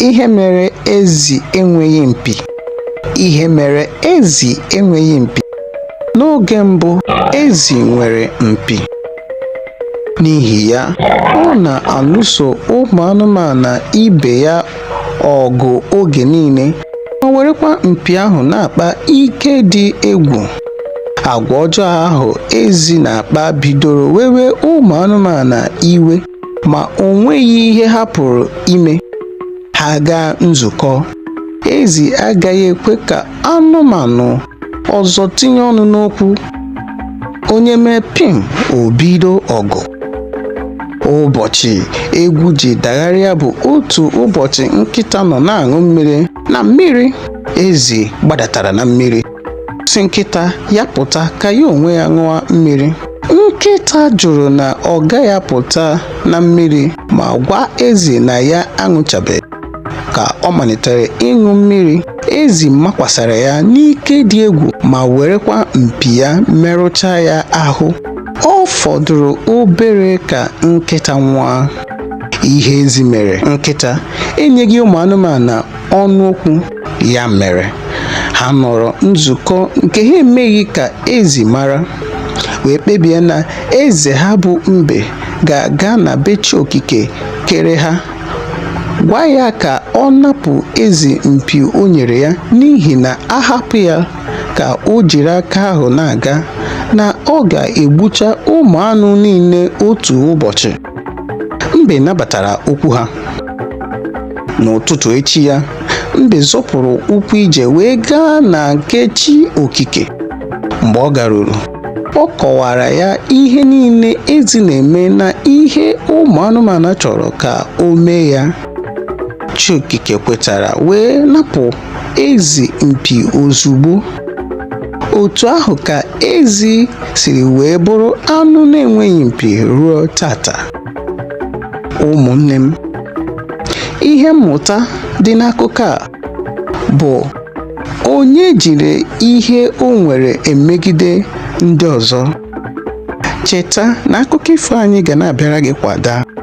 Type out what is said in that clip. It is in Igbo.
Ihe mere ezi enweghị mpi. Ihe mere ezi enweghị mpi. N'oge mbụ, ezi nwere mpi. N'ihi ya, ọ na-alụso ụmụ anụmanụ ibe ya ọgụ oge niile ma werekwa mpi ahụ na-akpa ike dị egwu. Agwa ọjọọ ahụ ezi na-akpa bidoro wewe ụmụ anụmanụ iwe. ma o nweghị ihe ha pụrụ ime ha gaa nzukọ ezi agaghị ekwe ka anụmanụ ọzọ tinye ọnụ n'okwu onye mee pim o bido ọgụ ụbọchị egwu ji dagharịa bụ otu ụbọchị nkịta nọ na-aṅụ mmiri na mmiri ezi gbadatara na mmiri sị nkịta ya pụta ka ya onwe ya ṅụọ mmiri nkịta jụrụ na ọ gaghị apụta na mmiri ma gwa ezi na ya aṅụchabeghị ka ọ malitere ịṅụ mmiri ezi makwasara ya n'ike dị egwu ma werekwa mpi ya merụchaa ya ahụ ọ fọdụrụ obere ka nkịta nwụọ ihe ezi mere nkịta enyeghị ụmụ anụmanụ ọnụ okwu ya mere ha nọrọ nzukọ nke ha emeghị ka ezi mara wee kpebie na eze ha bụ mbe ga-aga na be chi okike kere ha gwa ya ka ọ napụ ezi mpi o nyere ya n'ihi na a hapụ ya ka o jiri aka ahụ na-aga na ọ ga-egbucha ụmụ anụ niile otu ụbọchị mbe nabatara okwu ha n'ụtụtụ echi ya mbe zọpụrụ ụkwụ ije wee gaa na nke chi okike mgbe ọ garuru ọ kọwara ya ihe niile ezi na-eme na ihe ụmụ anụmanụ chọrọ ka o mee ya chi okike kwetara wee napụ ezi mpi ozugbo otu ahụ ka ezi siri wee bụrụ anụ na-enweghị mpi ruo taata ụmụnne m ihe mmụta dị n'akụkọ a bụ onye jiri ihe o nwere emegide ndị ọzọ cheta na akụkọ ifo anyị ga na-abịara gị kwa daa